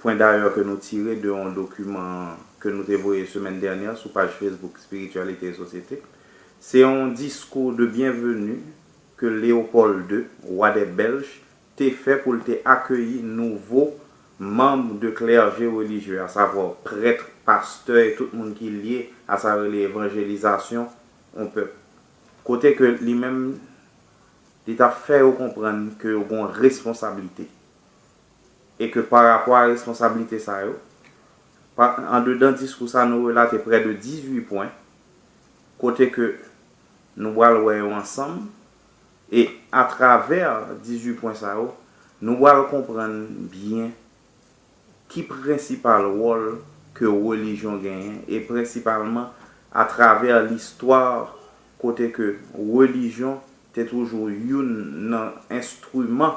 Pwen dayè ke nou tire de yon dokiman ke nou te voye semèn dènyè sou paj Facebook Spiritualité et Société, se yon diskou de byenveni ke Léopold ii, Wa dè Bèlj, te fè pou l te akeyi nouvo manm de klèje relijye, asavwa prèt, pastè e tout moun ki lye a sa yo rele evanjelizasyon yon pèp. Kote ke li menm li t ap fè yo konprann ke yo gen yon responsablite. e ke pa rapò a responsablite sa yo, pa andedan diskou sa nou relate prè de 18 pwen kote ke nou bwal wè yo ansanm e a travè 18 pwen sa yo nou bwal konprann byen ki prensipal wòl ke relijyon genyen e prensipalman a travè listwa kote ke relijyon te toujou youn nan enstriman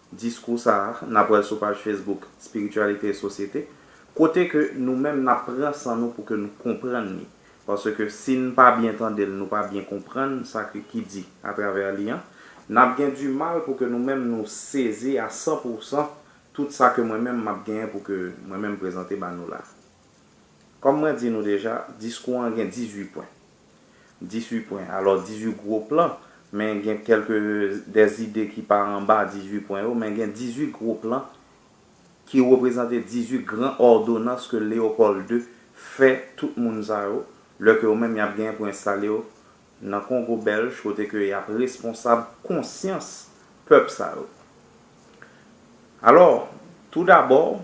Diskou sa a, n ap wè l sou paj Facebook Spiritualité et Société, kote ke nou menm n ap pran san nou pou ke nou konprann li. Paske si n pa byen tande l, nou pa byen konprann sa ke ki di atravè li an, n ap gen di mal pou ke nou menm nou sezi a san pou san tout sa ke mwen menm m ap genyen pou ke mwen menm prezante ba nou la a. Kòm mwen di nou deja, diskou an gen 18 pwen. 18 pwen, alò 18 gwo plan, men gen kèlke des ide ki pa anba 18 pwen yo, men gen 18 gwo plan ki reprezante 18 gran òdonans ke Léopold ii fè tout moun sa yo, lè ke yo menm y ap genyen pou enstale yo nan Kongo Bèlj, kote ke y ap responsab konsyans pèp sa yo. Alò, tou dabò,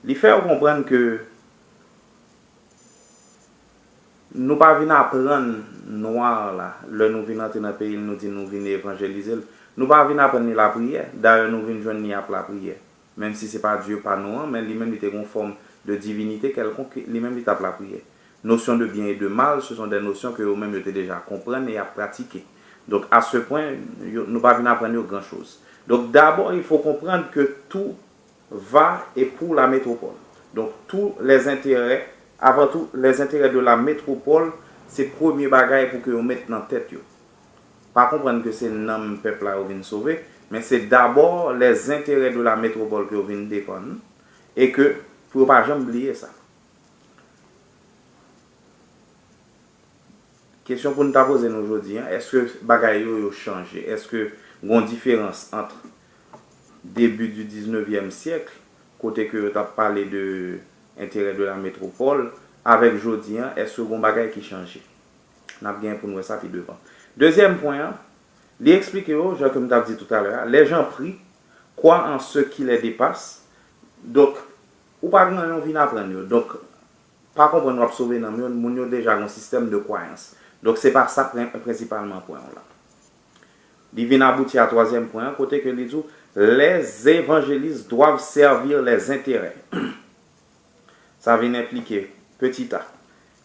li fè yo konprann ke. Nou pa vin aprann noir la lè nou vin antre nan peyi l nou di nou vin evanjelize l. Nou pa vin aprann li lapriyè. Dayè nou vin jwenn li ap lapriyè. Menm si se pa Dye pa nou an men li menm li te gen yon fòm de divinite kèlkonk li menm li t ap lapriyè. Nosyon de byen e de mal se son dè nosyon ke yo menm yo te deja konprann e y ap pratike. Donk a se pwen yo nou pa vin aprann yo gran choz. Donk dabò il fo konprann ke tou va e pou la metropole donk tou lè zenterè avan tou lè zenterè de la metropole se premye bagay pou ke yo met nan tèt yo pa konprann ke se nanm pèp la yo vin sove men se dabò lè zenterè de la metropole ke yo vin defann e ke pou yo pa janm bliye sa kesyon pou nou ta poze nou jodi an eske bagay yo yo chanje eske gon diferans antre. début du dix-neuvième siècle kote ke yo tap pale de intérêt de la métropole avèk jodi an eske gon bagay ki chanje? Nap genyen poun wè sa pi devan. Dezyèm pwen an, li eksplike yo jan ke m tap di toutalè a, les gens prient, croient en ce qui les dépasse, donk ou pa gran yon vin aprann yo, donk pa konprann wap sove nanm yo, moun yo deja gon système de croyance. Donk se pa sa prensipalman pwen w lan. Li vin abouti a twazyèm pwen an kote ke li di w les evangelistes doivent servir les intérêts, sa vin enplike, petit a,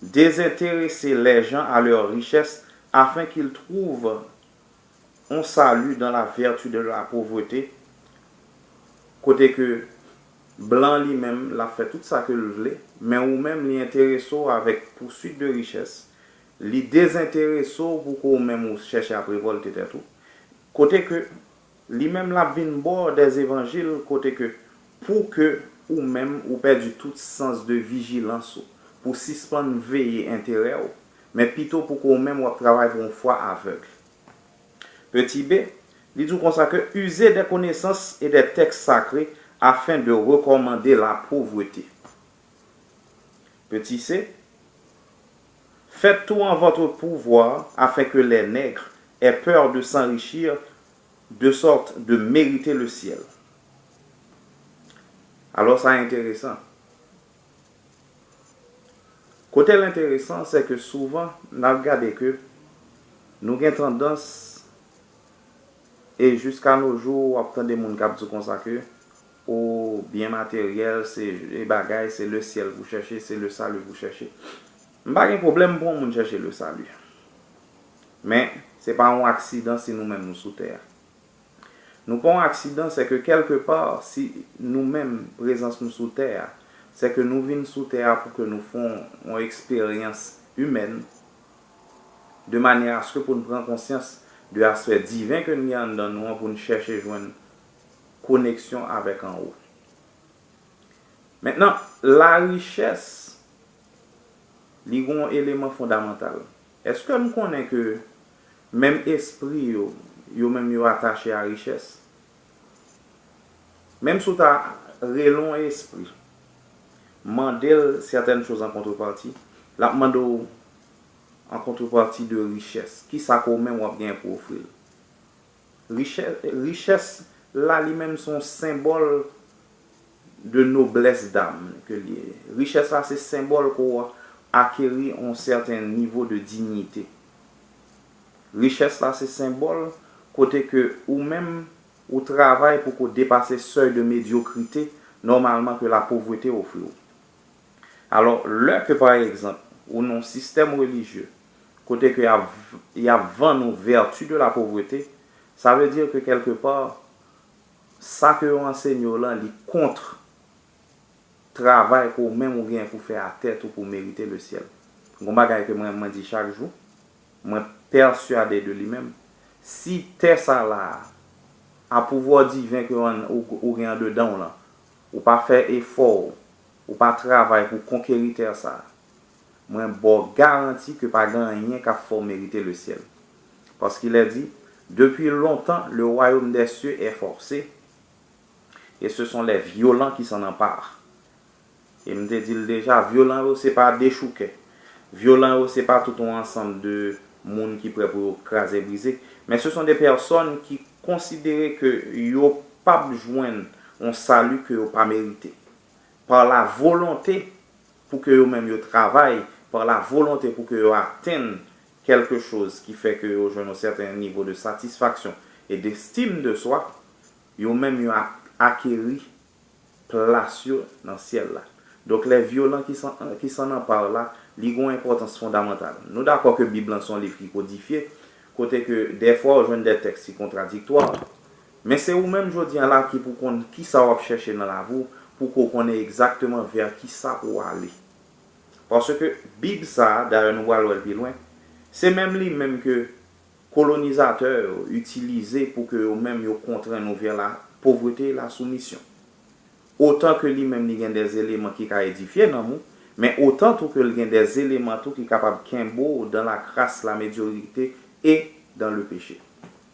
dezenterese les gens à leurs richesses afin qu'ils trouvent un salut dans la vertu de la pauvreté, kote ke blan an li menm l ap fè tout sa ke l vle, men ou menm li enterese w avèk poursuite de richesse, Li dezenterese w pou ke w menm ou chèche ap revolte tèt ou. Kote ke Li menm lap vin ba w des evanjil kote ke pou ke ou menm ou pèdi tout sans de vijilans ou, pou sispann veye enterè w, men pito pou ke w menm wap travay pou yon fwa avèg. Petit B, Li di w konsa ke user des connaissances et des textes sacrés afin de recommander la pauvreté. Petit C, Faites tout en votre pouvoir afin que les nègres aient peur de s'enrichir de sorte de mériter le ciel. Alors sa enteresan. Kote l enteresan se ke souvan n al gade ke nou gen tandans e jiska no jou w ap tande moun k ap di w konsa ke Oh byen materyèl se e bagay se le syèl pou chèche se le salut pou chèche m pa gen pwoblèm pou yon moun chèche le salut men se pa yon aksidan si nou menm nou sou tè a nou pa yon aksidan se ke kèlke pa si nou menm prezans nou sou tè a se ke nou vin sou tè a pou ke nou fon yon eksperyans imèn de manyè aske pou n pran konsyans de aspè diven ke n gen anndan nou an pou n chèche jwenn koneksyon avèk anwo. Mentnan, larichès, li gen yon eleman fondamantal. Eske n konnen ke menm espri yo, yo menm yo atache a richès? Menm si w ta rele yon espri, mande l sètèn choz an kontrepati, l ap mande w an kontrepati de richès, kisa ke w menm w ap genyen pou w ofri l? Richès la li menm son senbòl de noblesse d'âme ke li ye. Richès la se senbòl ke w akeri yon sèten nivo de dignite. Richès la se senbòl kote ke ou menm ou travay pou ke w depase sèy de medyokrite nòmalman ke la povwete ofri w. Alò, lè ke pa egzanp ou nan yon sistèm relijye kote ke y ap vann ou vertu de la pauvreté, sa veut dire ke quelque part, sa ke yo ansenye w lan li contre travay ke w menm ou genyen pou fè a tèt ou pou w merite le ciel. Gon bagay ke mwen mwen di chak jou, mwen persuade de li menm, si tè sa la a, a pouvoir divin ke ou gen andedan w lan, ou pa fè efò w, ou pa travay pou w konkeri tè sa a, Mwen ba w garanti ke pa gen anyen k ap fè w merite lesyèl. Paskil è di, Depi lontan le wayom dè sye è fòse, e se son lè vyolan ki san anpar. E m te di l deja, vyolan yo se pa dechoukè. Vyolan yo se pa tout on ansanm de moun ki prè pou yo kraze brize, men se son de pèsòn ki konsidere ke yo p ap jwenn on sali ke yo pa merite, par la volonte. Pou ke yo menm yo travay par la volonte pou ke yo atenn kèlke choz ki fè ke yo jwenn yon sèten nivo de satisfaksyon e destim de swa, yo menm yo ap akeri plas yo nan syèl la. Donk lè vyolan ki san ki san nan par la, li gon enpòtans fondamantal. Nou dakò ke Bib lan son liv ki kodifye, kote ke dèfwa ou jwenn dè tèks ki kontradiktwa, Men se ou menm jodi a la ki pou konn kisa wap chèche nan lavi w pou ke w konnen egzakteman vè kisa pou w ale. Paske Bib sa, dayè nou pral wè l pi lwen, se menm li menm ke kolonizatè yo itilize pou ke yo menm yo kontren nou vè la povrete e la soumisyon. Otan ke li menm li gen dè eleman ki ka edifye nanm ou, men otan tou ke l gen dè eleman tou ki kapab kenbe w dan la kras la medyorite e dan le peche.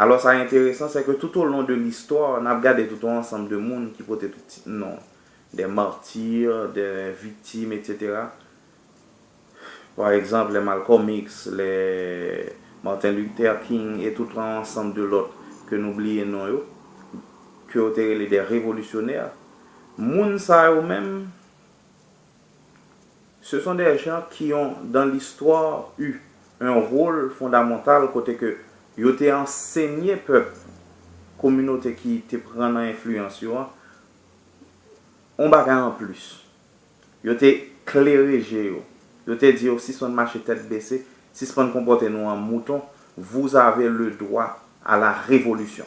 Alò sa enteresan sè ke tout o lon de listwa n ap gade tout on ansanm de moun ki pote tout tit non, des martyrs, des victimes etc. Par exemple les Malcolm X, les Martin Luther King et tout on ansanm de lòt ke nou bliye non yo, ke yo te rele des révolutionnaires, moun sa yo menm, Ce sont des gens qui ont dans l'histoire eu un rôle fondamental kote ke yo te ansenye pèp kominote ki te pran nan enfliyans yo an yon bagay an plis. Yo te klere je yo. Yo te di yo sispann mache tèt bese, sispann konpòte nou an mouton, vous avez le droit à la révolution.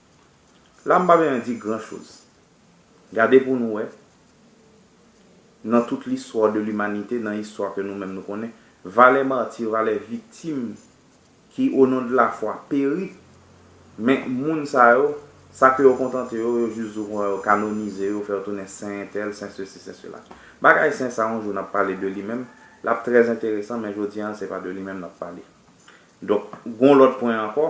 La m pa bezwen di gran choz. Gade pou nou wè, nan tout listwa de limanite, nan istwa ke nou menm nou konnen, valè mati, valè viktim ki o non de lafwa peri, men moun sa yo, sa ke yo kontante yo, yo jis di w kon yo kanonize yo, fè yo tounen sen entèl, sen sesi, sen sela. Bagay sen sa yon jou n ap pale de li menm, l ap trèzenteresan men jodi an se pa de li menm n ap pale. Donk, gon lòt pwen ankò,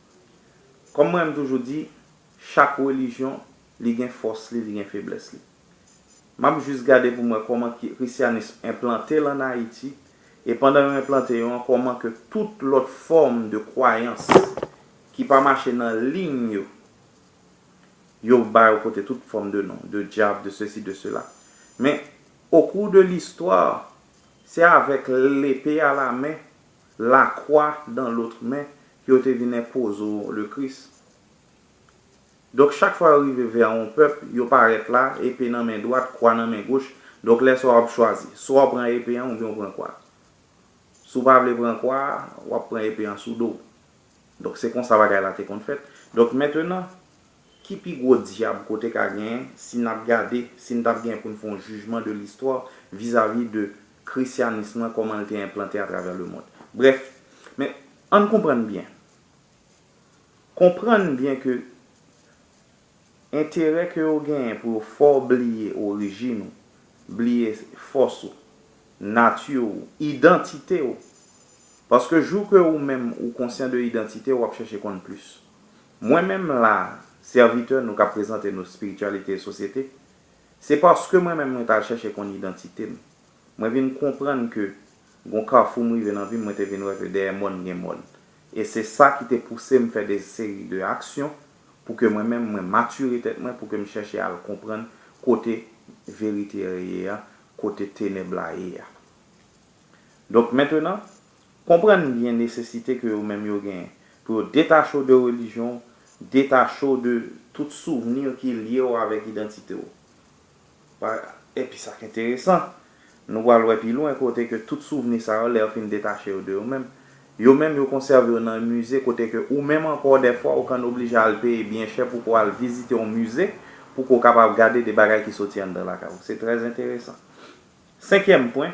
Kòm mwen m toujou di chak relijyon li gen fòs li li gen feblès li. Map jis gade pou m wè kòman krisyanism enplante l an Ayiti e pandan yo enplante yo an kòman ke tout lòt fòm de kwayans ki pa mache nan liy yo, yo ba yo pote tout fòm de non, de dyab, de sesi, de sela. Men, okou de listwa, se avèk lepe a la men La croix dans l'autre main ke yo te vin enpoze w le Christ. Donk chak fwa yo rive vè yon pèp, yo parèt la, epe nan men dwat, kwa nan men goch, donk lè sa w ap chwazi. Swa w pran epe an oubyen w pran kwa a. Si w pa vle pran kwa a, w ap pran epe an sou do w. Donk se konsa bagay la te konn fèt. Donk mentenan, Ki pi gwo dyab ke w te ka genyen si n ap gade, si n t ap genyen pou n fè yon jijman de listwa vizavi de Krisyanism lan, kòman l te enplante atravè lemond? Brèf, men an n konprann byen, konprann byen ke enterè ke yo genyen pou yo fè w bliye orijin ou, bliye fòs ou, nati ou, idantite ou, paske jou ke ou menm ou konsyan de idantite w, w ap chèche konn plis. Mwen menm la, sèvitè nou k'ap prezante nou Spirityalite e Sosyete, se paske mwen menm mwen t'al chèche konn idantite m', mwen vin konprann ke gon kafou m' rive nan vi m' mwen te vin wè ke dèyè mòn gen mòn. E se sa ki te pouse m' fè de seri de aksyon pou ke mwen menm mwen matire tèt mwen pou ke m' chèche al konprann kote verite a ye a, kote tenèb la ye a. Donk mentenan, Konprann byen nesesite ke yo menm yo genyen pou yo detache w de relijyon w, detache w de tout souvni ki lye w avèk idantite w. Pa Epi sa k enteresan, nou pral wè pi lwen kote ke tout souvni sa yo, lè yo fin detache yo de yo menm, yo menm yo konsève yo nan mize kote ke ou menm ankò dèfwa ou kann oblije al peye byen chè pou ke w al vizite yon mize pou ke w kapab gade de bagay ki soti anndan lakay ou. Se trè enteresan. Senkyèm pwen,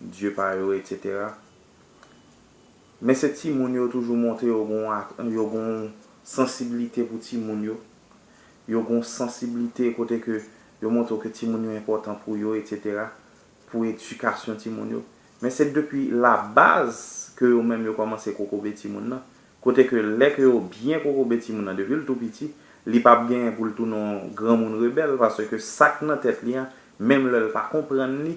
dye pa yo etc. Men se timoun yo toujou montre yo gon yo gon sansiblite pou timoun yo, yo gon sansiblite kote ke yo montre w ke timoun yo enpòtan pou yo etc. Pou edikasyon timoun yo. Men se depi la baz ke yo menm yo kòmanse kokobe timoun nan. Kote ke lè ke yo byen kokobe timoun nan depi l tou piti, li pap genyen pou l tounen yon granmoun rebèl paske sak nan tèt li an menm lè l pa konprann li,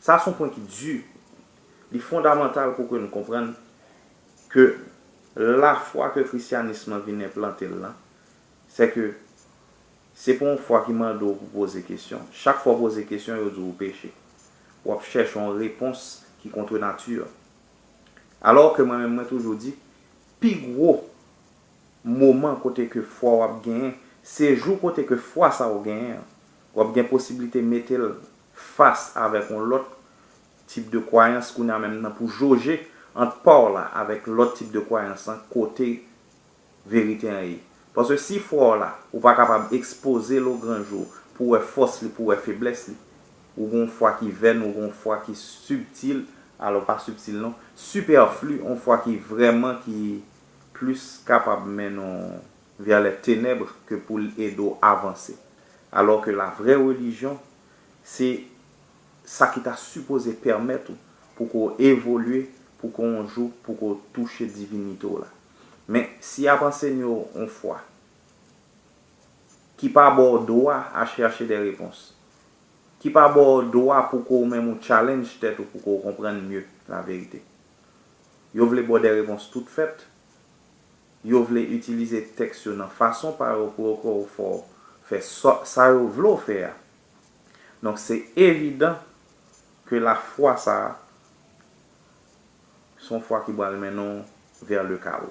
Sa son pwen ki di. Li fondamantal pou ke nou konprann ke lafwa ke Krisyanism lan vin enplante l lan, se ke se pa yon fwa ki mande w pou poze kesyon. Chak fwa w poze kesyon, yo di w ou peche. W ap chèche yon repons ki kontre nati yo. Alò ke mwen menm mwen toujou di, pi gwo moman kote ke fwa w ap genyen, se jou kote ke fwa sa ou genyen an, w ap gen posiblite mete l fas avèk yon lòt tip de kwayans kounye a menm nan pou joje ant pa w la avèk lòt tip de kwayans lan kote verite an ye. Paske si fwa w la ou pa kapab ekspoze l ogranjou pou wè fòs li pou wè feblès li, ou gen yon fwa ki vèn ou gen yon fwa ki sibtil, alò pa sibtil non, sipèfli yon fwa ki vrèman ki plis kapab mennen w vers les ténèbres ke pou l ede w avanse. Alò ke la vrè relijyon se sa ki ta sipoze pèmèt ou pou ke w evolye pou ke yon jou pou ke w touche divinite w la. Men si y ap ansenye w yon fwa ki pa ba w dwa a chercher des réponses, ki pa ba w dwa pou ke w menm ou challenge tèt ou pou ke w konprann mieux la vérité. Yo vle ba w des réponses toutes faites. Yo vle itilize tèks yo nan fason pa yo pou yo kwè w fò w fè sa yo vle w fè a. Donk se evidan ke lafwa sa a se yon fwa ki pral mennen w vè le kawo.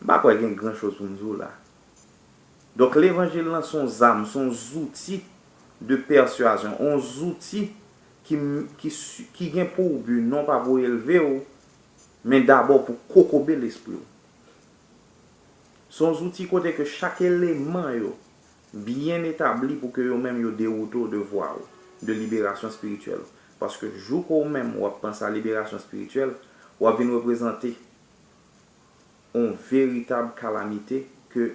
M pa kwè gen gran choz pou m di w la. Donk levanjil lan s on zam, s on zouti de pèsuazyon, on zouti ki ki ki gen pou bi non pa pou elve w men dabò pou kokobe lespri w. S on zouti kote ke chak eleman yo byen etabli pou ke yo menm yo dewoute w de vwa w, de liberasyon espirityèl w. Paske jou ke w menm w ap panse a liberasyon espirityèl, w ap vin reprezante. on veritab kalamite ke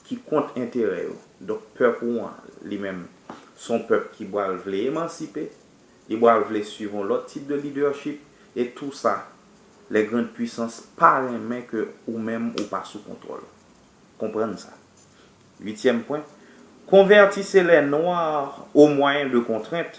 ki kont enterè yo. Donk pèp ou an, li menm, s on pèp ki bwal vle emansipe, li bwal vle swiv on lòt tip de lidèchip, e tou sa, lè grand pwisans pa renmen ke ou menm ou pa sou kontwòl. Konprann sa. Uityèm pwen, Konvèti se lè noir, o mwayen de kontrent,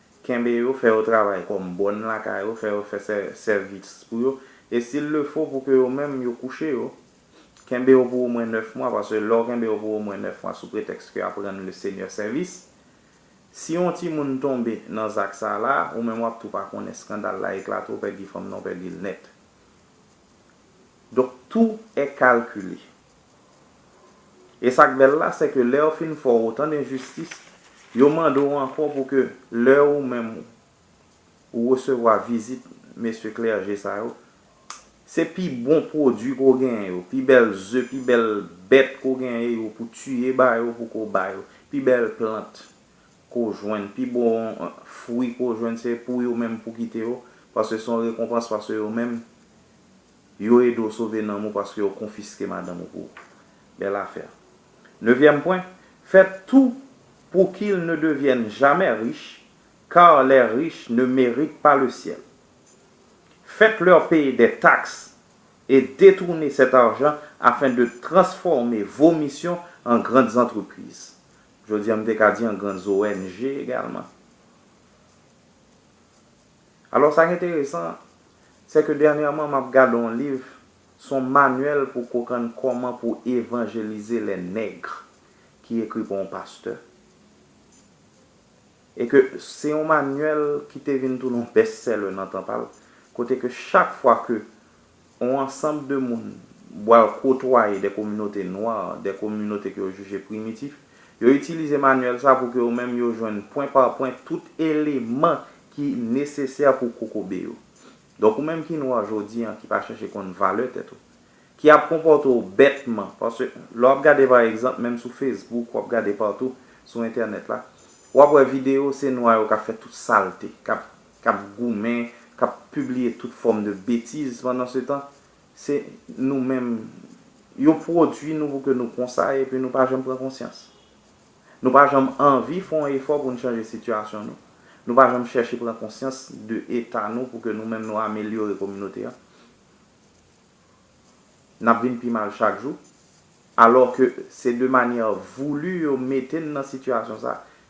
Kenbe yo, fè yo travay kòm bòn lakay yo, fè yo fè sè, sèvis pou yo, e si l le fo pou ke yo menm yo kouche yo, kenbe yo pou omwen nèf mwa, paske lè w kenbe yo pou omwen nèf mwa sou pretèks ke y ap rann le Senyè sèvis, si yon timoun tonbe nan zak sa a la, ou menm w ap tou pa konnen, skandal la eklate, ou pèdi fanm nan, ou pèdi l nèt. Donk, tou è kalkile. E sak bèl la se ke lè yo fin fè w otan de jistis, yo mande w ankò pou ke lè ou menm ou resevwa vizit mesye klèje sa yo, se pi bon pwodui ke w genyen yo, pi bèl ze, pi bèl bèt ke w genyen yo pou tiye ba yo pou ke w ba yo, pi bèl plant ke w jwenn, pi bon fwi ke w jwenn se pou yo menm pou kite yo, paske se yon rekonpans paske yo menm. Yo ede w sove nanm ou paske yo konfiske madanm ou pou ou. Bèl afè. Nevyèm pwen, Fè tou pou ki l ne devyèn jamè rich, kar lè rich ne merit pa le syèl. Fèt lèr peye dè taks e detourne sèt arjan afen de transfòme vo misyon an grand zantrepriz. Jodi an m te ka di an grand zonj egalman. Alò sa k enteresan, sè ke dènyèman m ap gade yon liv, s on manyèl pou kokann kòman pou evanjelize lè nègr, ki ekri pa yon pastè. E ke se yon manyèl ki te vin tounen yon best seller nan tan pa l, kote ke chak fwa ke On ansanb de moun bwal kotwaye de kominote nwa, de kominote ke yo jije primitif. Yo itilize manyèl sa pou ke yo menm yo jwenn pwen pa pwen tout eleman ki nesesè pou kokobe yo. Donk ou menm ki nwa jodi an ki pa chèche konn valè tèt ou, ki ap konpòte w bètman, paske lè w ap gade pa egzanp menm sou Facebook, w ap gade patou sou entènèt la, w ap wè videyo se nwa yo k ap fè tout salte, k ap k ap goumen, k ap pibliye tout fòm de betiz pandan se tan, se nou menm yo pwodui nou pou ke nou konsa epi nou pa janm pran konsyans. Nou pa janm anvi fè yon efò pou n chanje sitiyasyon nou. Nou pa janm chèche pran konsyans de eta nou pou ke nou menm nou amelyore kominote a. N ap vin pi mal chak jou, alò ke se de manyè voulu yo mete n nan sitiyasyon sa,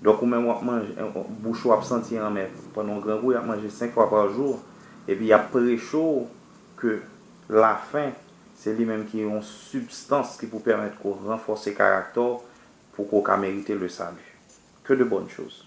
Donk ou menm wap manje, bouch ou ap santi anmè pandan w grangou, yap manje 5 fwa pa jou, epi yap preche w ke lafen se li menm ki yon sibstans ki pou pèmèt ke w ranfòse karaktè w pou ke w ka merite le salut. Que de bonnes choses!